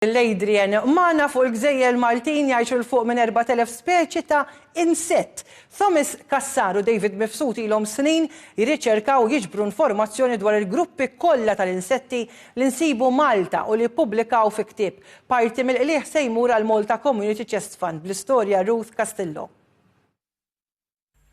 l-Adrian. Magħna fuq il-gżejjer Maltin jgħixu 'l fuq minn 4,000 speċi ta' insett. Thomas Cassar u David Mifsud ilhom snin jirriċerkaw u jiġbru informazzjoni dwar il-gruppi kollha tal-insetti li nsibu Malta u li ppubblikaw fi ktieb. Parti mill-qligħ se jmur għall-Malta Community Chest Fund bl-istorja Ruth Castillo.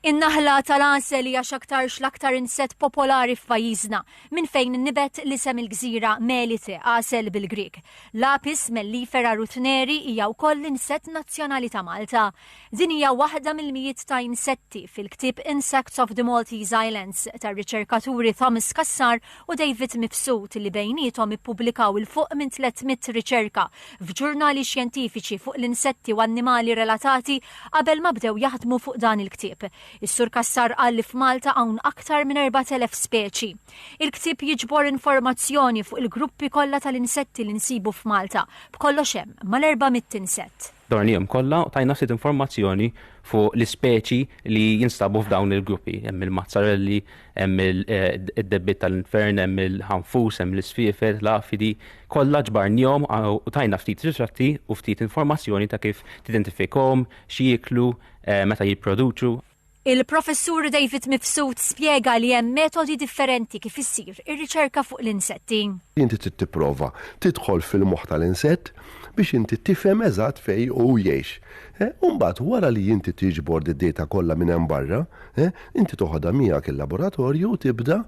In-naħla tal-għasel hija x'aktarx l-aktar insett popolari f'pajjiżna, minn fejn nibet l-isem il-gżira Melite, għasel bil-Grieg. L-Apis mellifera ruthneri hija wkoll l-insett nazzjonali ta' Malta. Din hija waħda mill-mijiet ta' insetti fil-ktieb Insects of the Maltese Islands tar-riċerkaturi Thomas Cassar u David Mifsud li bejniethom ippubblikaw 'il fuq minn 300 riċerka f'ġurnali xjentifiċi fuq l-insetti u annimali relatati qabel ma bdew jaħdmu fuq dan il-ktieb. Is-Sur Cassar qal li f'Malta hawn aktar minn 4,000 speċi. Il-ktieb jiġbor informazzjoni fuq il-gruppi kollha tal-insetti li nsibu f'Malta. B'kollox hemm mal-400 insett. Dornihom kollha u tajna ftit informazzjoni fuq l-ispeċi li jinstabu f'dawn il-gruppi. Hemm il-mazzarelli, hemm id-debbiet tal-infern, hemm il-ħanfus, hemm l-isfiefel, l-għafidi, kollha ġbarnihom u tajna ftit ritratti u ftit informazzjoni ta' kif tidentifikahom, x'jieklu, meta jipproduċu, Il-Professur David Mifsud spjega li hemm metodi differenti kif issir ir-riċerka fuq l-insetti. Inti trid tipprova tidħol fil-moħħ tal-insett biex inti tifhem eżatt fejn hu jgħix. U mbagħad wara li inti tiġbor d-data kollha minn hemm barra, inti toħodha miegħek il-laboratorju u tibda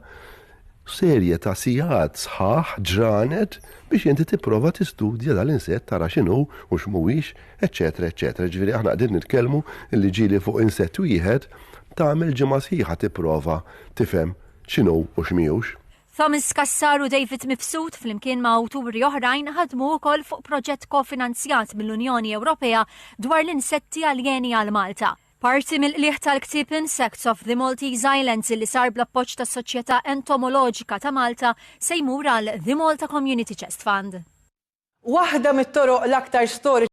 serje ta' sigħat sħaħ, ġranet, biex inti tipprova tistudja dal-insett tara x'inhu u x'mhuwiex. eċċetera eċċetera Jiġifieri aħna qegħdin nitkellmu li ġieli fuq insett wieħed tagħmel ġimgħa sħiħa tipprova tifhem x'inhu u x'mihux. Thomas Cassar u David Mifsud flimkien ma' awturi oħrajn ħadmu wkoll fuq proġett kofinanzjat mill-Unjoni Ewropea dwar l-insetti aljeni għal Malta. Parti mill-qligħ tal-ktieb Insects of the Maltese Islands li sar bl-appoġġ tas-Soċjetà Entomoloġika ta' Malta se jmur għal The Malta Community Chest Fund. Waħda mit-toroq l-aktar storiċi